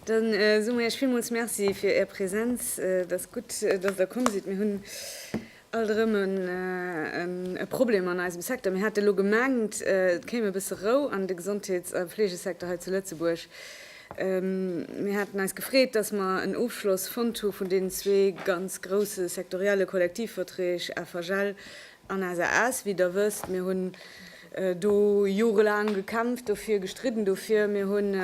Dann äh, so mir ech villmools Merci fir Är Präsenz. Äh, et ass gutt, äh, dass Der komm sidd. Mir hunn alt erëm en, äh, en, e Problem an eisem Secteur. Mir hate lo gemengt, äh, et kéim e bësse Rou an de Gesondheets a Fleegesecteur hei zu Lëtzebuerg. Mir haten eis gefreet, dass mer en Ofschloss fonnt hu vun deenen zwee ganz grouse sektorielle Kollektivverträg FHL an SAS. Wéi Der wësst, mir hunn do jorelaang gekämpft dofir, gestridden dofir. Mir hunn,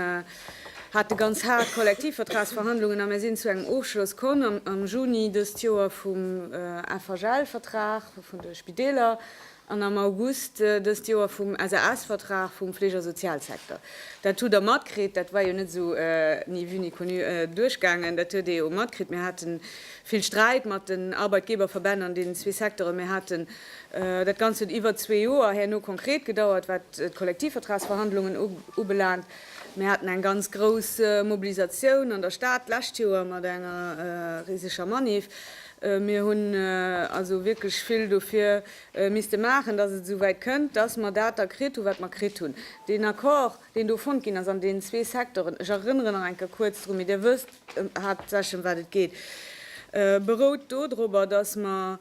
hate ganz haart Kollektivvertragsverhandlungen a mir sinn zu engem Ofschloss komm am Juni dëst Joer vum FHL-Vertrag vun de Spideeler. an am August dëst Joer vum SAS-Vertrag vum Fleegersozialsecteur. Dat hutt Der matkritt, dat war jo net esou ni vue ni connu duerchgaangen. Dat huet ee jo matkritt. Mir hate vill Sträit mat den Arbeitgeberverbänn an deenen zwee Secteuren. Mir haten dat Ganzt huet iwwer zwee Joer herno konkret gedauert, wat d'Kollektivvertragsverhandlungen ubelaangt. Mir haten eng ganz grouss Mobilisatioun an der Stad d'lescht Joer mat enger riseger Manif. Mir hunn also wierklech vill dofir misste maachen, dass et esouwäit kënnt, dass mer dat da kritt hunn, wat mer kritt hunn. Deen Accord, deen do fonnt ginn ass an deenen zwee Secteuren, ech erënnere nach eng Kéier kuerz drun, mee Dir wësst haaptsächlech, ëm wat et geet, berout dodropper, dass mer,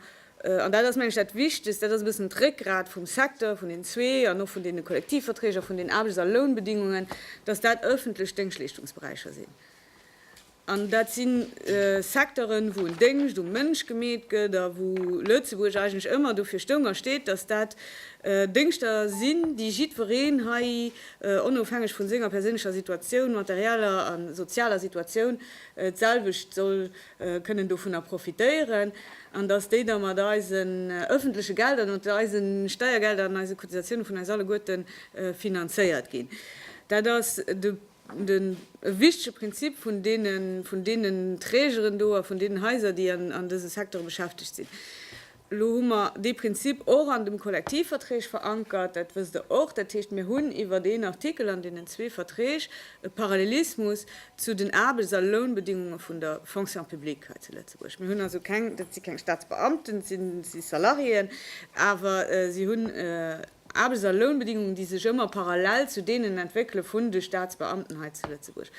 an dat ass, mengen ech, dat Wichtegst, dat ass e bëssen d'Réckgrat vum Secteur, vun den zwee an och vun deene Kollektivverträg a vun den Aarbechts a Lounbedingungen, dass dat öffentlech Déngschleeschtungsberäicher sinn. An dat si Secteuren, wou en Déngscht um Mënsch gemeet gëtt a wou Lëtzebuerg eigentlech ëmmer dofir stoung a steet, datt dat Déngschter sinn, déi jiddwereen hei, onofhängeg vu senger perséinlecher Situatioun, materieller a sozialer Situatioun, d'selwecht soll kënnen dovunner profitéieren an datt déi da mat eisen ëffentleche Gelder, mat eise Steiergelder an eise Cotisatioune vun eis alleguerte finanzéiert ginn. Dat ass de. Den e wichtege Prinzip vun deenen, vun deenen Trägeren do a vun deenen Haiser, déi an dese Secteure beschäftegt sinn, elo hu mer dee Prinzip och an dem Kollektivverträg verankert, dat wësst Der och, dat heescht, mir hunn iwwert een Artikel an deenen zwee Verträg e Parallelismus zu den Aarbechts a Lounbedingunge vun der Fonction publique hei zu Lëtzebuerg. Mir hunn also keng, dat si keng Staatsbeamten, dat si Salariéen, awer si hunn, Aarbechts a Lounbedingungen, déi sech ëmmer parallel zu deenen entwéckele vun de Staatsbeamten hei zu Lëtzebuerg.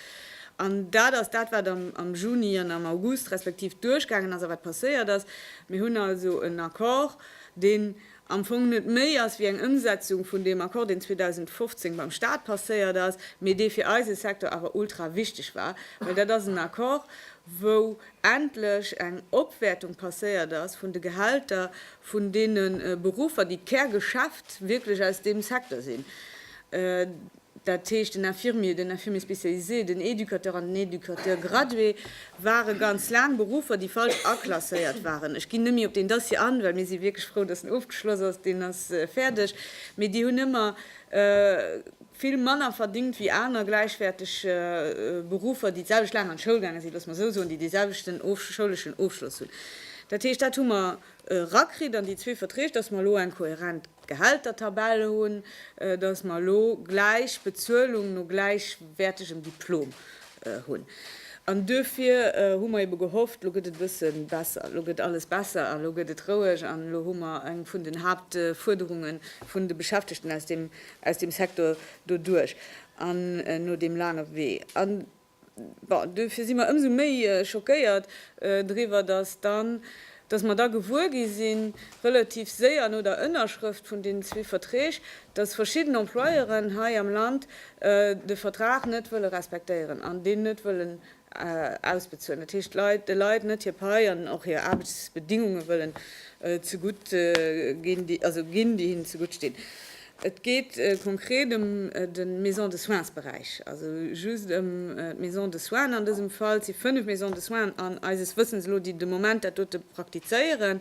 An dat ass dat, wat am Juni an am August respektiv duerchgaangen ass a wat passéiert ass. Mir hunn also en Accord, deen am Fong net méi ass wéi eng Ëmsetzung vun deem Accord, deen 2015 beim Stat passéiert ass, mee dee fir eise Secteur awer ultrawichteg war, well dat ass en Accord, wou endlech eng Opwäertung passéiert ass vun de Gehälter vun deene Beruffer, déi d'Kärgeschäft wierklech aus deem Secteur sinn, dat heescht den Infirmier, den Infirmier spécialisé, den Éducateur an den Éducateur gradué, ware ganz laang Beruffer, déi falsch aklasséiert waren. Ech ginn net méi op deen Dossier an, well mir si wierklech frou, datt en ofgeschloss ass, deen ass fäerdeg, mee déi hunn ëmmer. vill manner verdingt wéi aner gläichwäerteg Beruffer, déi d'selwecht laang an d'Schoul gaange sinn, loosse mer esou soen, déi dee selwechten schouleschen Ofschloss hunn. Dat heescht, dat hu mer erakritt an déi zwee Verträg, dass mer elo eng kohärent Gehältertabell hunn, dass mer elo gläich Bezuelung no gläichwäertegem Diplom hunn. An duerfir hu mer eebe gehofft, elo gëtt et e bësse besser, elo gëtt alles besser an elo gëtt et roueg an elo hu mer eng vun den Haaptfuerderunge vun de Beschäftegten aus deem aus dem Secteur doduerch an no deem laange Wee. An bon, dofir si mer ëmsou méi schockéiert driwwer, dass dann, dass mer da gewuer gi sinn, relativ séier no der Ënnerschrëft vun deenen zwee Verträg, dass verschidden Employeuren hei am Land de Vertrag net wëlle respektéieren an deen net wëllen ausbezuelen, dat heescht de Leit net hir Pai an och hir Aarbechtsbedingunge wëllen zegutt ginn, déi also ginn, déi hinnen zegutt stinn. Et geet konkret ëm de Maison-de-soins-Beräich, also just ëm d'Maison de soins an dësem Fall. Et si fënnef Maisons de soins an eises Wëssens elo, déi de Moment dat dote praktizéieren.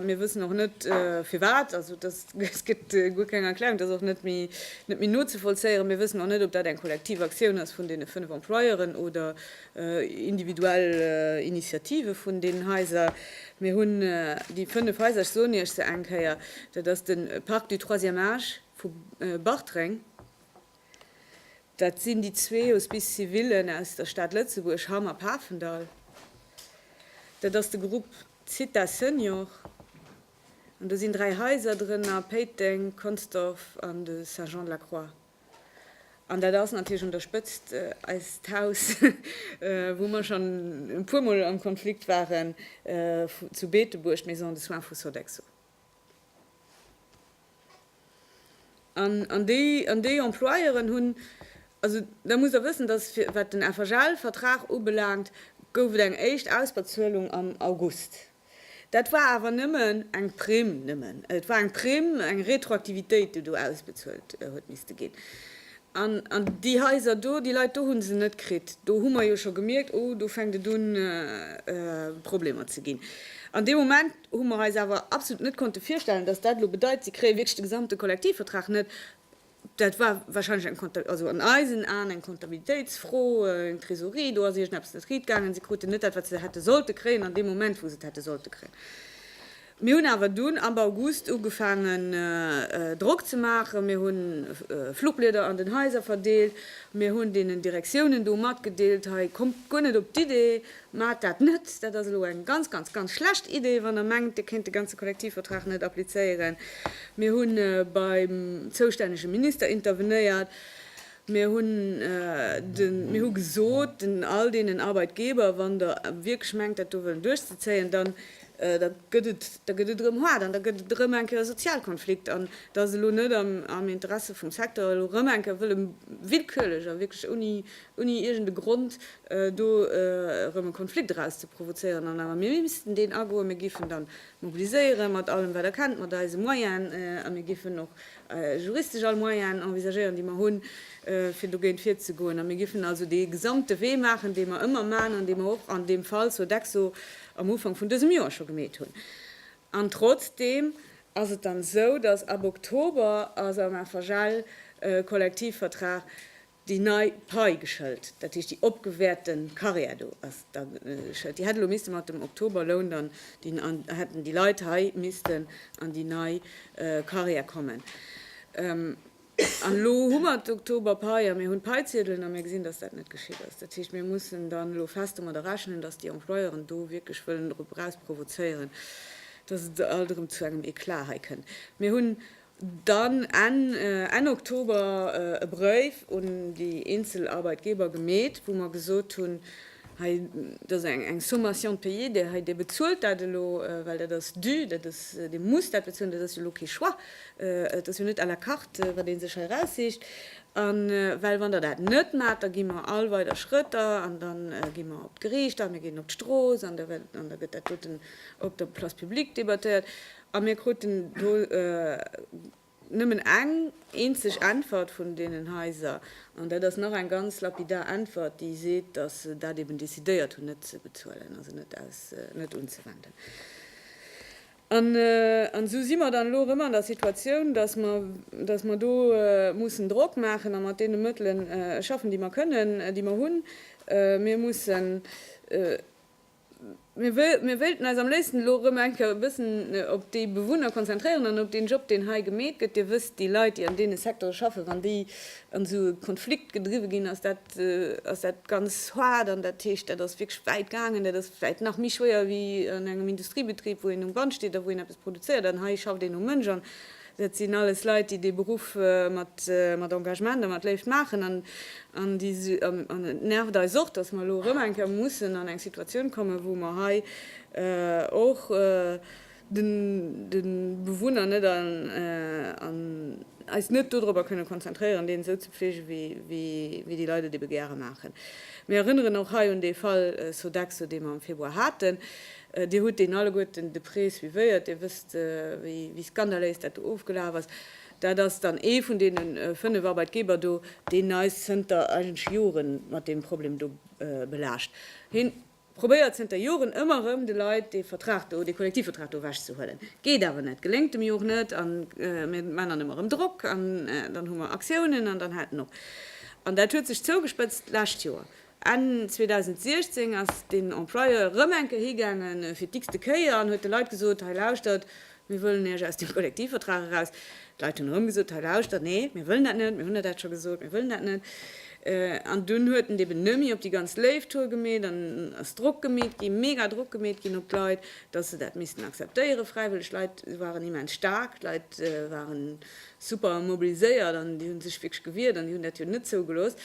Mir wëssen och net firwat, also dass Et gëtt guer keng Erklärung, et ass och net méi nozevollzéieren. Mir wëssen och net, ob dat eng kollektiv Aktioun ass vun deene fënnef Employeuren oder individuell Initiative vun deenen Haiser. Mir hunn déi fënnef Haiser, ech soen Iech se eng Kéier, dat ass de Parc du Troisième Âge vu Bartreng, dat sinn déi zwee Hospices civilen aus der Stad Lëtzebuerg, Hamm a Pafendall, dat ass de Grupp Zitha Senior, An do sinn dräi Haiser drënner, Péiteng, Consdorf an de Saint-Jean-de-la-Croix. An dat ass natierlech un der Spëtzt eist Haus, wou mer schonn e puermol am Konflikt waren, zu Beetebuerg, d'Maison de soins vu Sodexo. An an déi Employeuren hunn, also da musst Der wëssen, datt wat den FHL-Vertrag ubelaangt, gouf et eng éischt Ausbezuelung am August. Dat war awer nëmmen eng Primm, nëmmen, et war eng Primm, eng Retroaktivitéit, déi do ausbezuelt huet misste ginn. An, an déi Haiser do, déi Leit do hu se net kritt. Do hu mer jo scho gemierkt, oh, do fänkt et un Problemer ze ginn. An dee Moment hu mer eis awer absolut net konnte virstellen, dass dat elo bedeit, si kréie wierklech de gesamte Kollektivvertrag net. Dat war wahrscheinlech eng Konta, also an eisen Aen eng Kontabilitéitsfro, eng Trésorerie, do ass iergendeppes net riit gaangen, si kruten net dat, wat se hätte sollte kréien an deem Moment, wou se et hätte sollte kréien. Mir hunn awer dunn ab August ugefaangen, Drock ze maachen, mir hu Fluchblieder an den Haiser verdeelt, mir hunn deenen Direktiounen do matgedeelt, Hei kommt guer net op d'Idee, Mä dat net, dat ass elo eng ganz, ganz, ganz schlecht Idee, wann Der mengt, Dir kéint de ganze Kollektivvertrag net applizéieren. Mir hu beim zoustännege Minister intervenéiert. Mir hu gesot, den all deenen Arbeitgeber, Wann Der wierklech mengt, dat do wëllen duerchzezéien, da gëtt et erëm haart an da gëtt et erëm eng Kéier e Sozialkonflikt. An et ass elo net am Interesse vum Secteur, elo erëm eng Kéier wëlle willkürlech a wierklech ouni ouni iergend e Grond do erëm e Konflikt eraus ze provozéieren, an awer mir missten deen agoen. Mir géifen dann mobiliséieren, mat allem wat Der kennt, mat eise Moyen, a mir géifen och juristesch all Moyen envisagéieren, déi mer hunn, fir dogéint virzegoen. A mir géifen also dee gesamte Wee maachen, dee mer ëmmer man an dee mer och an deem Fall Sodexo am Ufank vun dësem Joer scho gemeet hunn. An trotzdeem ass et dann esou, dass ab Oktober ass am FHL e Kollektivvertrag Déi nei Pai geschëlt, dat heescht déi opgewäerte Karriär do ass da geschëlt. Déi hätt elo misste mat dem Oktoberloun dann, hätten déi Leit hei missten an déi nei Karriär kommen. An elo hu mer d'Oktoberpai a mir hunn d'Paiziedelen a mir gesinn, dass dat net geschitt ass. Dat heescht, mir mussen dann elo fest domadder rechnen, dass déi Employeuren do wierklech wëllen drop erausprovozéieren, dass et alt erëm zu engem Eclat hei kënnt. Mir hunn Dann Enn Oktober e Bréif un déi eenzel Arbeitgeber gemeet, wou mer gesot hunn, hei, dat ass eng Sommation de payer, Dir hei, Dir bezuelt dat elo, well dat ass dû, dat ass, Dir musst dat bezuelen, dat ass jo elo kee Choix, et ass jo net à la carte, wat ee sech hei erausseecht. A well, wann Der dat net maacht, da gi mer all weider Schrëtter an da gi mer op d'Geriicht an mir ginn op d'Strooss an da gëtt dat doten op der Place publique debattéiert. A mir kruten do nëmmen eng eenzeg Äntwert vun deenen Haiser, an dat ass nach eng ganz lapidar Äntwert, déi seet, datt se dat eben decidéiert hunn, net ze bezuelen, also net aus, net unzewenden. An esou si mer dann elo erëm an der Situatioun, datt mer, datt mer do mussen Drock maachen a mat deene Mëttele schaffen, déi mer kënnen, déi mer hunn. Mir mussen. Mir wéilten eis am léifsten elo erëm eng Kéier e bëssen op déi Bewunner konzentréieren an op deen Job, deen hei gemeet gëtt. Dir wësst, déi Leit, déi an deene Secteure schaffen, wann déi an esou e Konflikt gedriwwe ginn, ass dat, ass dat ganz haart an dat heescht, dat ass wierklech wäit gaangen. Dat ass vläicht nach méi schwéier wéi an engem Industriebetrib, wou een um Band steet a wou een eppes produzéiert. An hei schafft een um Mënsch an Dat sinn alles Leit, déi dee Beruff mat Engagement a mat Léift maachen. An et nervt eis och, datt mer elo erëm eng Kéier mussen an eng Situatioun kommen, wou mer hei och de Bewunner net an eis net dodrobber kënne konzentréieren, deen esou ze fleege wéi déi Leit et ebe gäre maachen. Mir erënneren och hei un dee Fall Sodexo, dee mer am Februar haten. Dir hutt deen alleguerten de près suivéiert, Dir wësst, wéi skandaléis dat do ofgelaf ass. Dat ass dann ee vun deene fënnef Arbeitgeber do, deen eis zënter eigentlech Jore mat deem Problem do belaascht. Hie probéiert zënter Joren ëmmer erëm, de Leit dee Vertrag do, dee Kollektivvertrag do ewechzehuelen. Geet awer net, geléngt dem jo och net. A mir maan dann ëmmer erëm Drock an dann hu mer Aktiounen an dann hält en op. An dat huet sech zougespëtzt d'lescht Joer. Enn 2016 ass deen Employeur erëm eng Kéier higaangen, fir d'x-te Kéier, an huet de Leit gesot, Hei lauschtert, mir wëllen iech aus dem Kollektivvertrag eraus. D'Leit hunn erëm gesot, Hei lauschtert, nee, mir wëllen dat net, mir hunn der dat scho gesot, mir wëllen dat net. An dunn huet en et eben nëmme op déi ganz léif Tour gemeet an ass Drock gemeet ginn, mega Drock gemeet ginn op d'Leit, dass se dat missten akzeptéieren, fräiwëlleg. D'Leit waren immens staark, d'Leit waren super mobiliséiert an déi hunn sech wierklech gewiert an déi hunn dat jo net zougelooss.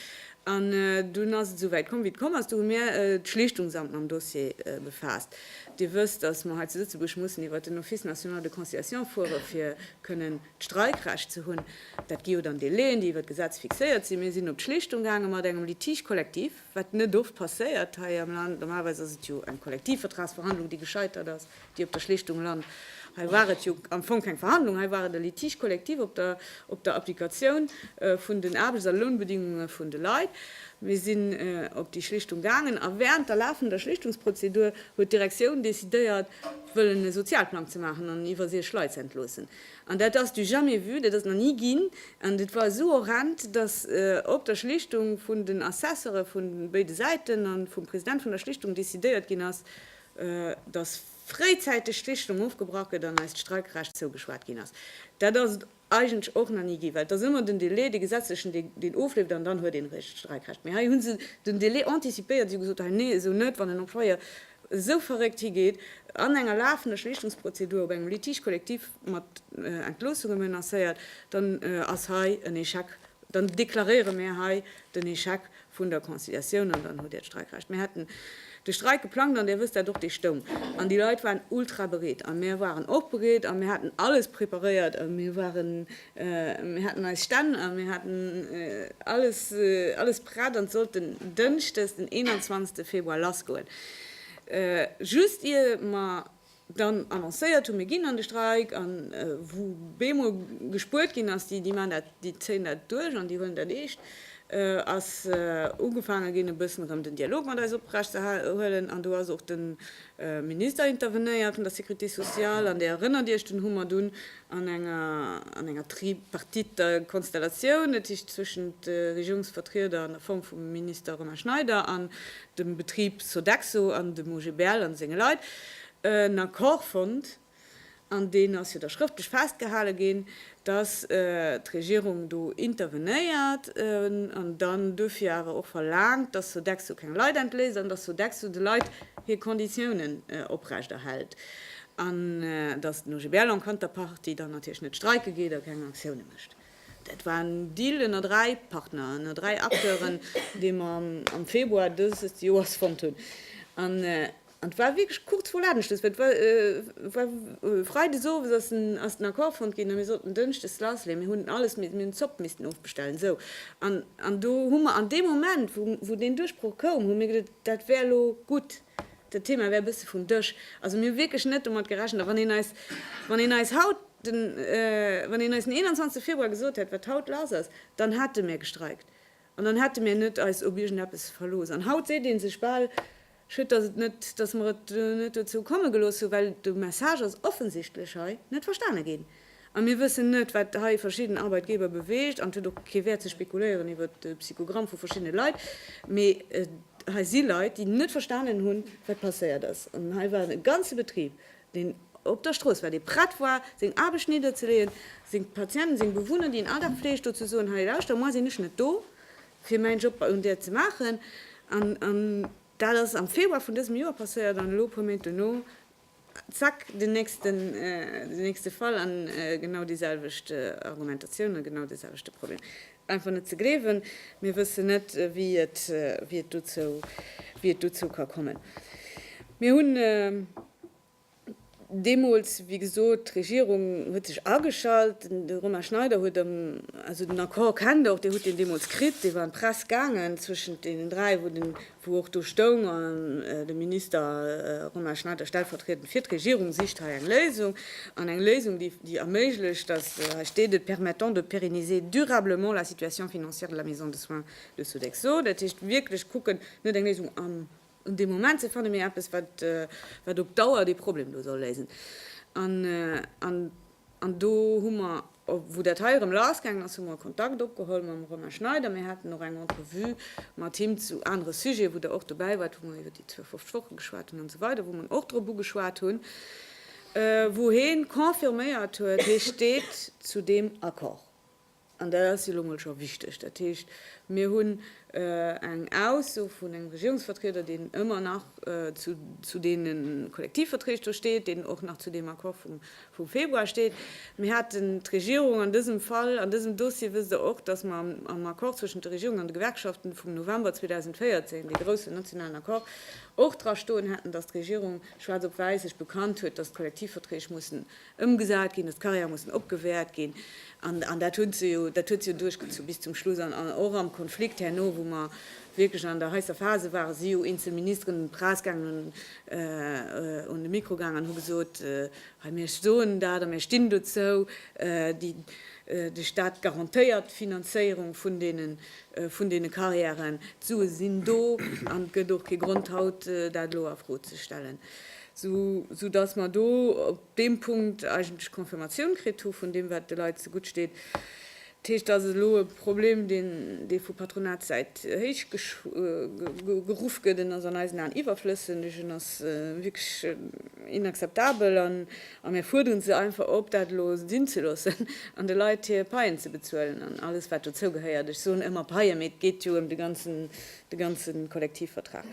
An dunn ass et esou wäit komm wéi et komm ass. Do hu mir d'Schlichtungsamt mam Dossier befaasst. Dir wësst, datt mer hei zu Lëtzebuerg mussen iwwert den Office national de conciliation fuere fir kënnen d'Streikrecht ze hunn. Dat gi jo dann Délaiën, déi iwwert d'Gesetz fixéiert sinn. Mir sinn op d'Schlichtung gaange mat engem Litige collectif, wat net oft passéiert hei am Land. Normalerweis ass et jo eng Kollektivvertragsverhandlung, déi gescheitert ass. déi op der Schlichtung lant. Hei war et jo am Fong keng Verhandlung, hei war et e Litige collectif op der op der Applikatioun vun den Aarbechts a Lounbedingunge vun de Leit. Mir sinn op déi Schlichtung gaangen a während der lafender Schlichtungsprozedur huet d'Direktioun decidéiert, wëllen e Sozialplang ze maachen an iwwer 6 Leit ze entloossen. An dat ass du jamais vu, dat ass nach ni ginn an et war esou horrend, dass op der Schlichtung vun den Assesseure vu béide Säiten a vum President vun der Schlichtung decidéiert ginn ass, datt fréizäiteg d'Richtung ofgebrach gëtt an eis d'Streikrecht zougeschwat ginn ass. Dat ass et eigentlech och nach ni ginn, well et ass ëmmer den Délai, dee gesetzlechen, deen ofleeft an dann huet een eréischt d'Streikrecht. Mee hei hu se den Délai anticipéiert, si hu gesot, hei, nee, esou net, wann en Employeur esou verréckt higeet, an enger lafender Schlichtungsprozedur op engem Litige collectif mat Entloossunge menacéiert, dann ass hei en Échec, dann deklaréiere mir hei den Échec vun der Conciliatioun an dann hutt Dir d'Streikrecht. Mir haten de Streik geplangt, an Dir wësst dat och, dee stoung an. Déi Leit waren ultra bereet a mir waren och bereet a mir haten alles preparéiert a mir waren, mir haten eis Stänn a mir haten alles, alles prett an sollt den Dënschdes, den 21. Februar lassgoen. Just ier mer dann annoncéiert hunn, mir ginn an de Streik, a wou bemol gespuert ginn ass, déi maachen dat, déi zéien dat duerch an déi huelen dat eescht, ass ugefaange ginn e bëssen erëm den Dialog mat eis oprecht ze huelen. An do ass och de Minister intervenéiert vun der Sécurité sociale, an Dir erënnert Iech, deen hu mer dunn an enger Tripartite Konstellatioun, dat heescht zwëschent de Regierungsvertrieder an der Form vum Minister Romain Schneider an dem Betrib Sodexo an dem OGBL an senge Leit en Accord fonnt, an deen ass jo da schrëftlech festgehale ginn, dass d'Regierung do intervenéiert an dann duerfir awer och verlaangt, dass Sodexo keng Leit entléisst an dass Sodexo de Leit hir Konditiounen oprechterhält an dass den OGBL en Counterpartie dann natierlech net streike geet a keng Aktioune mécht. Dat war en Deal ënner dräi Partner, ënner dräi Acteuren, dee mer am Februar dëses Joers fonnt hunn. An et war wierklech kuerz vru Ladenschluss, well et war freides owes ass den Accord fonnt ginn a mir sollten dënschdes lassleeën. Mir hunn alles, mir hunn d'Zopp missten ofbestellen. Esou. An do hu mer an deem Moment, wou deen Duerchbroch koum, hu mir geduet, dat wär elo gutt. Dat Thema wär e bësse vum Dësch. Also mir hu wierklech net domat gerechent. A wann een eis, wann een eis haut den, wann een eis den 21 Februar gesot hätt, wat haut lass ass, dann hätte mär gestreikt an dann hätte mär net eis op iergendeppes verlooss. An haut seet ee sech bal, Schued, dass et net, dass mer et net dozou komme gelooss hu well de Message ass offensichtlech hei net verstane ginn. A mir wëssen net, wat hei verschidden Arbeitgeber beweegt. An et huet och kee Wäert ze spekuléieren iwwer de Psychogramm vu verschiddene Leit. Mee hei si Leit, déi net verstanen hunn, wat passéiert ass. An hei war e ganze Betrib, deen op der Strooss war, dee prett war, seng Aarbecht nidderzeleeën, seng Patienten, seng Bewunner, déi en all Dag fleegt, do ze soen, Hei, lauschter, moi sinn ech net do, fir mäin Job un där ze maachen. An dat ass am Februar vun dësem Joer passéiert. An elo, e puer Méint duerno, Zack, den nächsten, den nächste Fall an genau déi selwecht Argumentatioun a genau dee selwechte Problem. Einfach net ze gleewen. Mir wëssen net, wéi et, wéi et dozou, wéi et dozou ka kommen. Mir hunn deemools, wéi gesot, d'Regierung huet sech ageschalt, de Romain Schneider huet am, also den Accord kennt Der och, Dir hutt deen deemools kritt, dee war an d'Press gaangen, zwëschent deenen dräi, wou den wou och do stoung, de Minister Romain Schneider stellvertriedend fir d'Regierung sicht hei eng Léisung, an eng Léisung, déi erméiglecht, dass, hei steet et, permettant de pérenniser durablement la situation financière de la maison de soins de Sodexo. Dat heescht, wierklech kucken, net eng Léisung an deem Moment ze fannen, mee eppes, wat op Dauer dee Problem do soll léisen. An do hu mer, wou dat hei erëm lassgaangen ass, hu mer Kontakt opgeholl mam Romain Schneider. Mir haten och eng Entrevue mat him zu anere Sujete, wou Der och dobäi waart, wou mer iwwer déi 52 Woche geschwat hunn an esou weider, wou mer en och drop ugeschwat hunn, wou hee confirméiert huet, hee steet zu deem Accord. An dat ass jo elo mol scho wichteg. Dat heescht, mir hunn eng Ausso vun engem Regierungsvertrieder, deen ëmmer nach zu deene Kollektivverträg do steet, deen och nach zu deem Accord vum Februar steet. Mir haten d'Regierung an dësem Fall, an dësem Dossier, wësst Der och, datt mer am Accord zwëschent der Regierung an de Gewerkschaften vum November 2014, dee groussen nationalen Accord, och dra stoen haten, datt d'Regierung schwaarz op wäiss sech bekannt huet, datt d'Kollektivverträg mussen ëmgesat ginn, datt d'Carrièrë mussen opgewäert ginn, an dat huet se jo duerchgezu bis zum Schluss, an och am Konflikt herno, wou mer wierklech an der heisser Phase waren, si jo eenzel Ministeren un d'Press gaangen, un de Mikro gaangen an hu gesot, hei mir soen dat a mir stinn dozou, de Staat garantéiert d'Finanzéierung vun deene Carrièren, d'Sue sinn do an et gëtt och kee Grond haut dat elo a Fro ze stellen. sou dass mer do op deem Punkt eigentlech Confirmatioun kritt hu vun deem, wat de Leit zegutt steet. Dat heescht, et ass elo e Problem, deen, dee vu Patronatssäit héichgeruff gëtt, en ass an eisen Aen iwwerflëssendeg, en ass wierklech inakzeptabel a mir fuerderen se einfach op, dat elo sinn ze loossen an de Leit hir Paien ze bezuelen an alles, wat dozou gehéiert. Ech soen ëmmer Paie, mee et geet jo ëm de ganzen, de ganze Kollektivvertrag.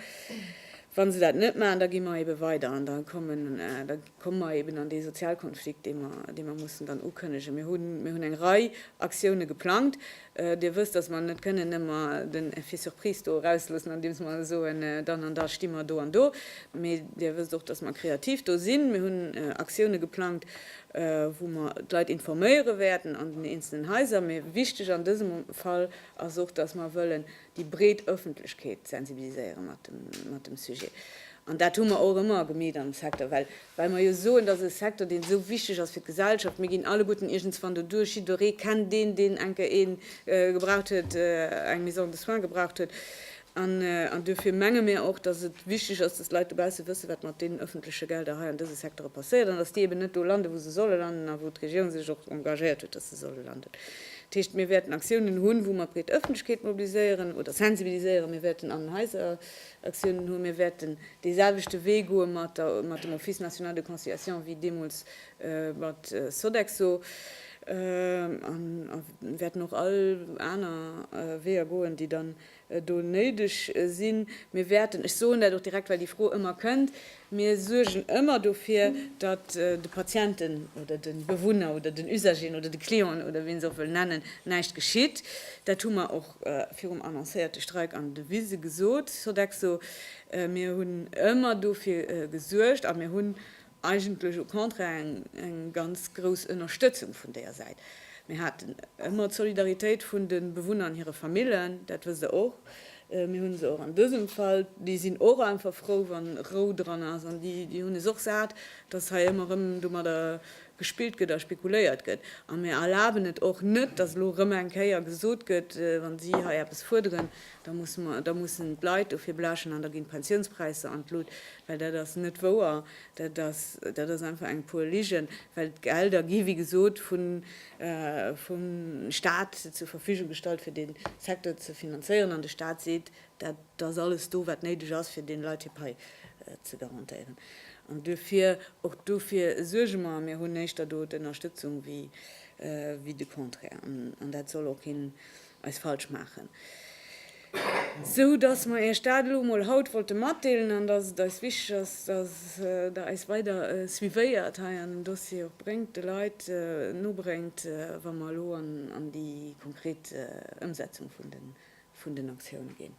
Wa se dat net maachen, da gi mer eebe weider an da komme mer eeben an dee Sozialkonflikt, dee mer, dee mer mussen dann ukënnegen. Mir hunn, mir hunn eng Rei Aktioune geplangt. Dir wësst, datt mer net kënnen ëmmer den Effet surprise do erausloossen, andeems mer soen, dann an da sti mer do an do, mee Dir wësst och, datt mer kreativ do sinn. Mir hunn Aktioune geplangt, wou mer d'Leit informéiere wäerten an den eenzelen Haiser. Mee wichteg an dësem Fall ass och, datt mer wëllen, déi breet Ëffentlechkeet sensibiliséiere mat dem Sujet. An dat hu mer och ëmmer gemeet am Secteur, well mer jo soen, dat ass e Secteur, deen esou wichteg ass fir d'Gesellschaft. Mir ginn alleguerten iergendswann doduerch, jidderee kennt een, deen eng Kéier ee gebraucht huet, eng Maison de soins gebraucht huet. An duerfir menge mir och, dass et wichteg ass, dass d'Leit dobausse wëssen, wat mat deenen ëffentleche Gelder hei an dëse Secteure passéiert an dass déi eben net do landen, wou se solle landen a wou d'Regierung sech och engagéiert huet, dass se solle landen. Dat heescht, mir wäerten Aktiounen hunn, wou mer d'breet Ëffentlechkeet mobiliséieren oder sensibiliséieren. Mir wäerten an den Haiser Aktiounen hunn. Mir wäerten deeselwechte Wee goe mat der, mat dem Office national de conciliation wéi deemools mat Sodexo a wäerten och all aner Weeër goen, déi dann do néideg sinn. Mir wäerten, ech soen dat och direkt, well déi Fro ëmmer kënnt, mir suergen ëmmer dofir, datt de Patienten oder de Bewunner oder den Usageren oder de Clienten oder wéi een se och wëll nennen, näischt geschitt. Dat hu mer och virum annoncéierte Streik an Devise gesot, Sodexo. Mir hunn ëmmer dofir gesuergt a mir hunn Eigentlech au contraire eng ganz grouss Ënnerstëtzung vun deeër Säit. Mir haten ëmmer d'Solidaritéit vun de Bewunner an hire Famillen, dat wësst Der och. Mir hu se och an dësem Fall. Déi sinn och einfach frou, wa Rou dran ass an déi hunn es och sat, dass hei ëmmer erëm domadder gespillt gëtt a spekuléiert gëtt. A mir erlaben et och net, dass elo erëm eng Kéier gesot gëtt, wa si hei eppes fuerderen, da mussen d'Leit dofir blechen an da ginn d'Pensiounspräisser an d'Lut. Well dat ass net wouer. Dat ass, dat ass einfach eng puer Ligen, well d'Gelder gi wéi gesot vu, vum Stat zur Verfügung gestallt fir dee Secteur ze finanzéieren an de Stat seet, dat ass alles do wat néideg ass fir deene Leit hir Pai ze garantéieren. An duerfir, och dofir suerge mer. Mir hunn éischter do d'Ënnerstëtzung wéi de Contraire. An dat soll och keen eis falsch maachen, sou dass mer Iech dat elo emol haut wollte matdeelen an dass et eis wichteg ass, dass Der eis weider suivéiert hei an den Dossier och bréngt, de Leit nobréngt, wa mer elo an déi konkret Ëmsetzung vun den Aktioune ginn.